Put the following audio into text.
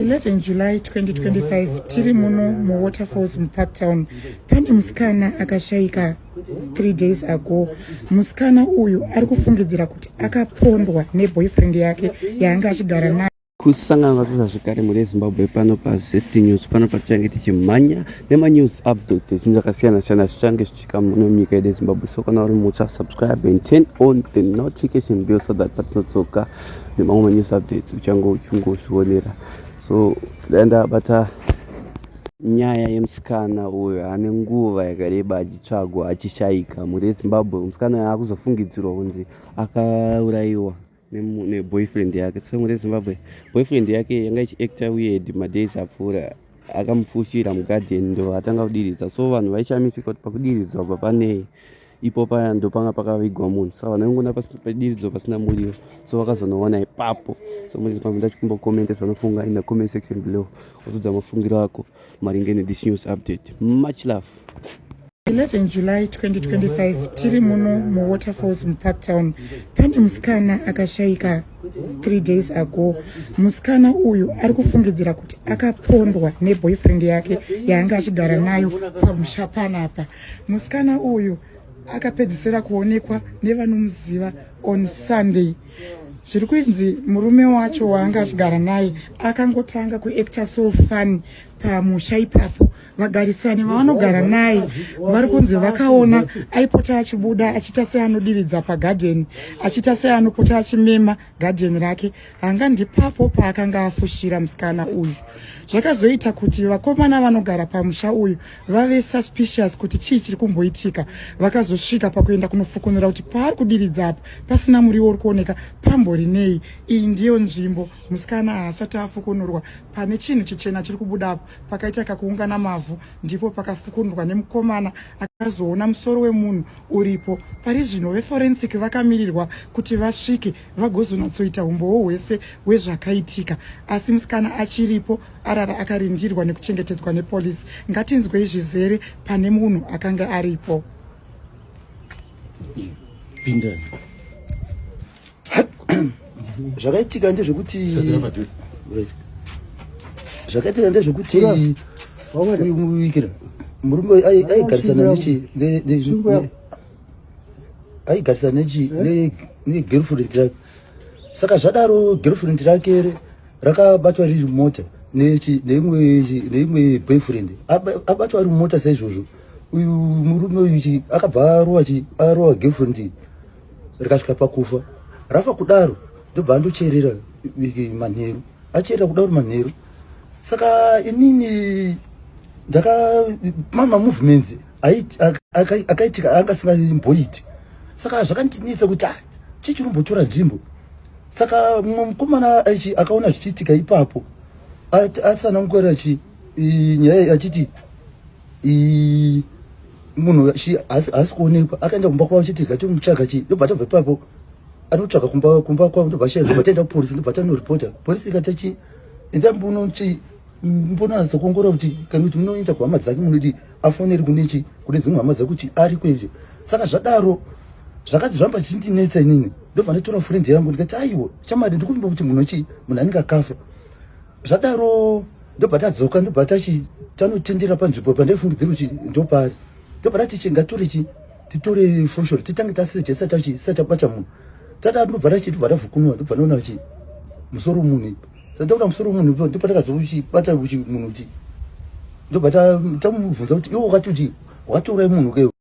11 july 2025 tiri muno muwaterfalls mupark town pane musikana akashaika three days ago musikana uyu ari kufungidzira kuti akapondwa neboyfriend yake yaange achigara nayo kusangana vatuza zvekare mune zimbabwe pano pazest news pano patichange tichimhanya nemanews updates echinhu zvakasiyana siyana zvichange zvichi Chikamu muno munyika yedu yezimbabwe so kana uri mutsva subscribe and turn on the notification bell so that patinodzoka nemamwe manews updates uchange uchingozvionera so dai ndabata nyaya yemusikana uyo ane nguva yakareba achitsvagwa achishaika mhuri yezimbabwe musikana uyo akuzofungidzirwa kunzi akaurayiwa neboyfriend yake song rezimbabwe boyfriend yake yanga ichiacta weird madays apfuura akamufushira mugarden ndo atanga kudiridza so vanhu vaishamisika kuti pakudiridzwa pa panei ipo paya ndo panga pakavigwa munhu sa vanhu vaingona padiridzo pasina muriwo so vakazonoona ipapo so muriambo ndachikumbokomenta zvanofunga in the comment section below otudza mafungiro ako maringe nethis news update much love 11 july 2025 tiri muno muwaterfalls mupark town pane musikana akashaika three days ago musikana uyu ari kufungidzira kuti akapondwa neboyfriend yake yaanga achigara nayo pamusha panapa musikana uyu akapedzisira kuonekwa nevanomuziva on sunday zviri kuinzi murume wacho waanga achigara naye akangotanga kuacta so fun pamusha ipapo vagarisani vavanogara naye vari kunzi vakaona aipota achibuda achiita seanodiridza pagadheni achiita seanopota achimema gadheni rake hanga ndipapo paakanga afushira musikana uyu zvakazoita kuti vakomana vanogara pamusha uyu vave suspicious kuti chii chiri kumboitika vakazosvika pakuenda kunofukunura kuti paari kudiridza apa pasina muriwo uri kuoneka pambori nei iyi ndiyo nzvimbo musikana haasati afukunurwa pane chinhu chichena chiri kubuda apo pakaita kakuungana mavhu ndipo pakafukunurwa nemukomana akazoona musoro wemunhu uripo pari zvino veforensic vakamirirwa kuti vasvike vagozonatsoita humbowo hwese hwezvakaitika asi musikana achiripo arara akarindirwa nekuchengetedzwa nepolisi ngatinzwei zvizere pane munhu akanga aripo zvakaitika ndezvekuti zvakaitika ndezvekuti murume aigarisana nechi aigarisa nechi eh? ne girlfriend rake saka zvadaro girlfriend rake re rakabatwa riri mota nechi neimwe neimwe boyfriend abatwa ari mota saizvozvo uyu murume uyu chi akabva arowa chi arowa girlfriend rikasvika pakufa rafa kudaro ndobva andocherera manheru acherera kudaro manheru saka inini ndaka mama movements akaitika anga asingaimboiti saka zvakandinetsa kuti ah, chii chinombotora nzvimbo saka mumwe mukomana akaona zvichiitika ipapo atsanangukora achi nyaya achiti munhu haasi kuonekwa akaenda kumba kwavo chiti gati mutsvaga chii ndobva tabva ipapo anotsvaga kumba kumba kwavo ndobva shaya ndobva taenda kupolisi ndobva tanoripota polisi ikati chi enda mbuno chi mbonanatsa kuongorora kuti kana kuti munoenda kuhama dzake munodii afoneri kunechi kune dzimwe hama dzekuti ariko izvi saka zvadaro zvakati zvamba chindinetsa inini ndobva ndatora friend yangu ndikati aiwo chamari ndikuvimba kuti munhu chii munhu anenge akafa zvadaro ndobva tadzoka ndobva tachi tanotendera panzvimbo pandaifungidzira kuti ndopari ndobva tati chi ngatore chi titore foshoro titange tasejesa tachi satabata munhu tadaro ndobva tachiti bva tavhukunwa ndobva ndaona kuti musoro munhu ipa Sataura musoro munhu ndipo ndipo takazokuti bata kuti munhu kuti ndobata tamubvunza kuti iwe wakati kuti wakatoura munhu ke